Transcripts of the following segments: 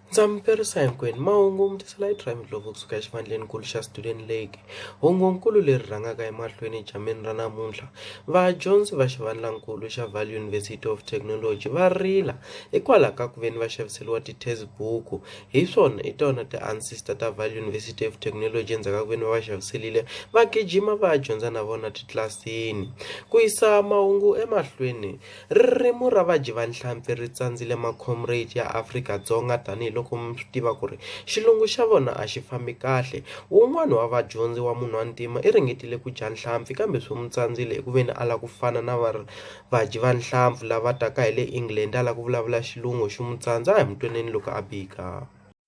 ndza mi perisa hinkwenu mahungu mutiselai trimidlovo kusuka exivandleni kulu xa student lake Hungukulu leri rhangaka emahlweni edyambini ra namuntlha, vadyondzi va xivandlankulu xa Vaal University of Technology va rila hikwalaho ka ku veni va xaviseriwa ti test book hi swona hi tona ti ancestor ta Vaal University of Technology endzhaku ka ku veni va va xaviselile va gijima va ya dyondza na vona titlilasini ku yisa mahungu emahlweni. Ririmi ra vadyi va nhlampfi ri tsandzile macomrade ya Afrika-Dzonga tanihi loko mi swi tiva ku ri xilungu xa vona a xi fambi kahle. Wun'wana wa vadyondzi wa munhwantima i ringetile ku dya nhlampfi kambe swi n'wi tsandzile eku veni a lava ku fana na va vadyi va nhlampfi lava taka hi le England a lava ku vulavula xilungu xi n'wi tsandza a hi mu twaneni loko a bika.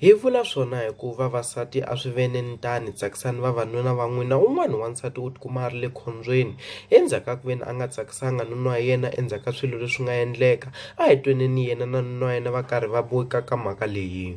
Hi vula swona hi ku vavasati a swi ve ni tano tsakisana ni vavanuna va n'wina un'wana wa nsati u tikuma a ri le khombyeni endzhaku ka ku ve ni a nga tsakisaka nuna wa yena endzhaku ka swilo leswi nga endleka a hi tweni ni yena na nuna wa yena va karhi va ka ka mhaka leyi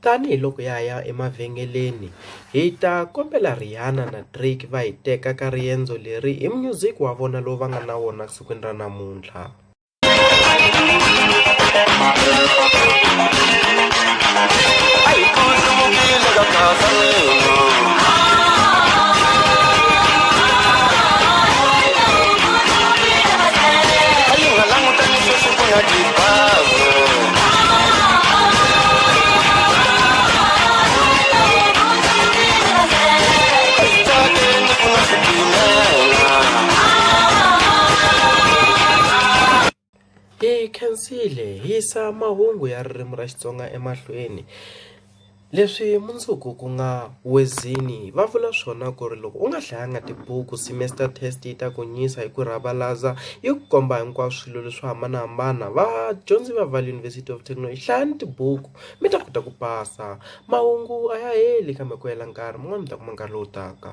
Tanihi loko ha ya emavhengeleni, hi ta kombela Rihanna na Drake va hi teka ka riendzo leri hi munyuziki wa vona lowu va nga na wona sikwini ra namuntlha. hi khensile hi yisa mahungu ya ririmi ra Xitsonga emahlweni. Leswi mundzuku ku nga Wezini va vula swona ku ri loko u nga hlayanga tibuku semester test yi ta ku nyisa hi ku rhavalaza yi ku komba hinkwaswo swilo leswo hambanahambana vadyondzi va Vaal University of Technology hlayani tibuku mi ta kota ku pasa mahungu a ya heli kambe ku hela nkarhi mun'wani mi ta kuma nkarhi lowu taka.